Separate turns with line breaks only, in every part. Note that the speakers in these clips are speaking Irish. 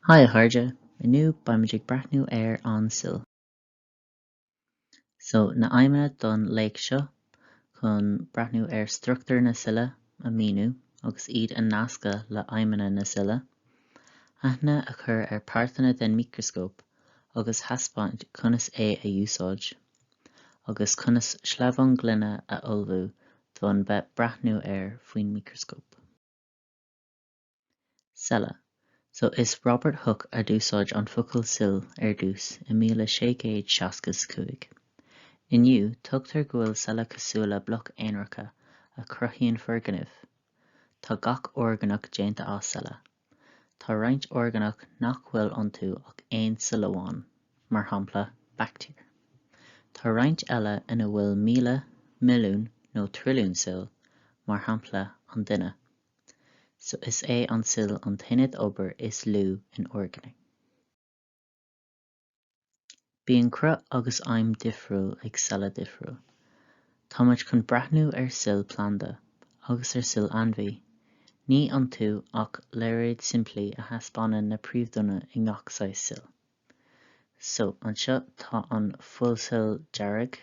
Haigh a chairde, inniu beimid ag breathnú ar an cill. So, na aidhmeanna don léacht seo, chun breathnú ar struchtúr na cille a míniú agus iad a nascadh le aidhmeanna na cille, aithne a chur ar páirteanna den micreascóp a agus thaispeáint conas é a úsáid, agus conas sleamhán gloine a ullmhú d'fhonn bheith breathnú air faoin micreascóp. Cealla. So is Robert Hooke a d'úsáid an focal cill ar dtús i míle sé gcéad seasca 's cúig. Inniu, tugtar go bhfuil cealla cosúil le bloc aonaracha a chruthaíonn foirgnimh. Tá gach orgánach déanta as cealla. Tá roinnt orgánach nach bhfuil iontu ach aon cill amháin, mar shampla, baictéir. Tá roinnt eile ina bhfuil míle, milliún nó trilliún cill, mar shampla, an duine. So is é an cill an t-aonad obair is lú in orgánaigh. Bíonn cruth agus aidhm difriúil ag cealla difriúil. Táimid chun breathnú ar cill planda agus ar cill ainmhí. Ní iontu ach léaráid simplí a thaispeánann na príomhdhuine i ngach saghas cill. So, anseo tá an fuilchill dearg,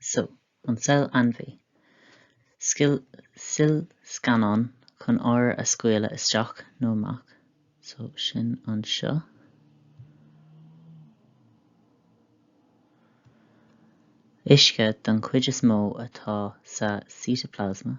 So, an cill ainmhí. Scil, cillscannán chun ábhair a scaoileadh isteach nó amach. So, sin anseo. Uisce don chuid is mó atá sa cíteaplasma.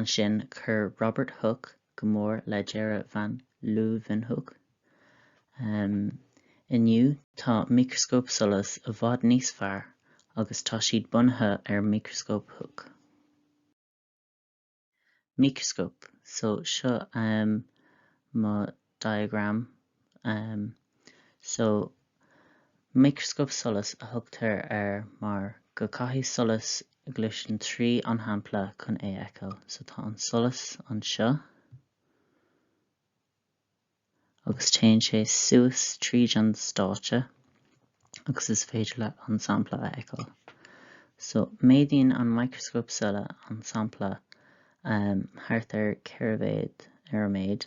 ansin chuir Robert Hooke go mór le dearadh van Leeuwenhoek. Inniu tá micreascóip solais i bhfad níos fearr agus tá siad bunaithe ar mhicreascóp Hooke. Micreascóip, so seo mo. diagram um so micreascóp solais a thugtar air mar go gcaithfidh solas gluaiseann trí an shampla chun é a fheiceáil so tá an solas anseo agus téann sé suas tríd an stáitse agus is féidir leat an sampla a fheiceáil so méadaíonn an micreascóp solais an sampla um thart ar ceithre mhéad ar an méid.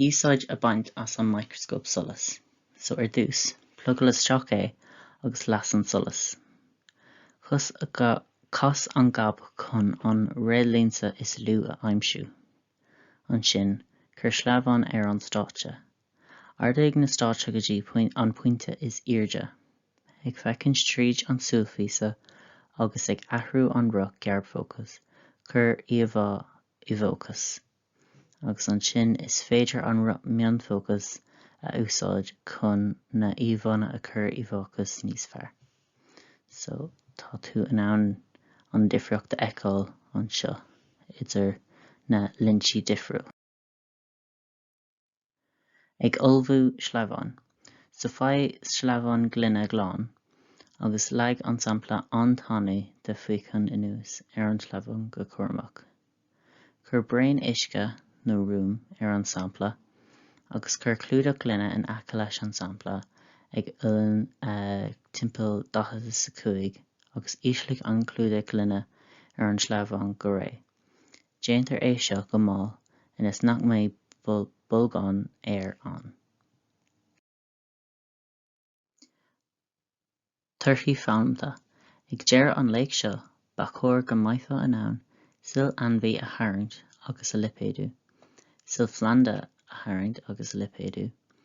Úsáid a bhaint as an micreascóp solais. So ar dtús, plugáil isteach é agus las an solas. Cas, cas an gob chun an réadlionsa is lú a aimsiú. Ansin, cuir sleamhnán ar an stáitse. Ardaigh na stáitse go dtí an pointe is airde, ag feicint tríd an súilphíosa agus ag athrú an roth garbhfhócais, cuir íomhá i bhfócas, agus ansin is féidir an roth mionfhócais a úsáid chun na íomhánna a chur i bhfócas níos fearr. So, tá tú in ann an difríocht a fheiceáil anseo idir na lionsaí difriúil. Ag ullmhú sleamhnán. So faigh sleamhnán gloine glan agus leag an sampla an-tanaí de fíochán anuas ar an sleamhnán go cúramach. Cuir braon uisce nó ruaim ar an sampla agus cuir clúdach gloine in aice leis an sampla ag uillinn timpeall 45 agus ísligh an clúdach gloine ar an sleamhnán go réidh. Déantar é seo go mall ionas nach mbeidh bolgán aeir ann. Torthaí foghlamtha! Ag deireadh an léacht seo, ba chóir go mbeifeá in ann cill ainmhí a tharraingt agus a lipéadú, cill phlanda a tharraingt agus a lipéadú,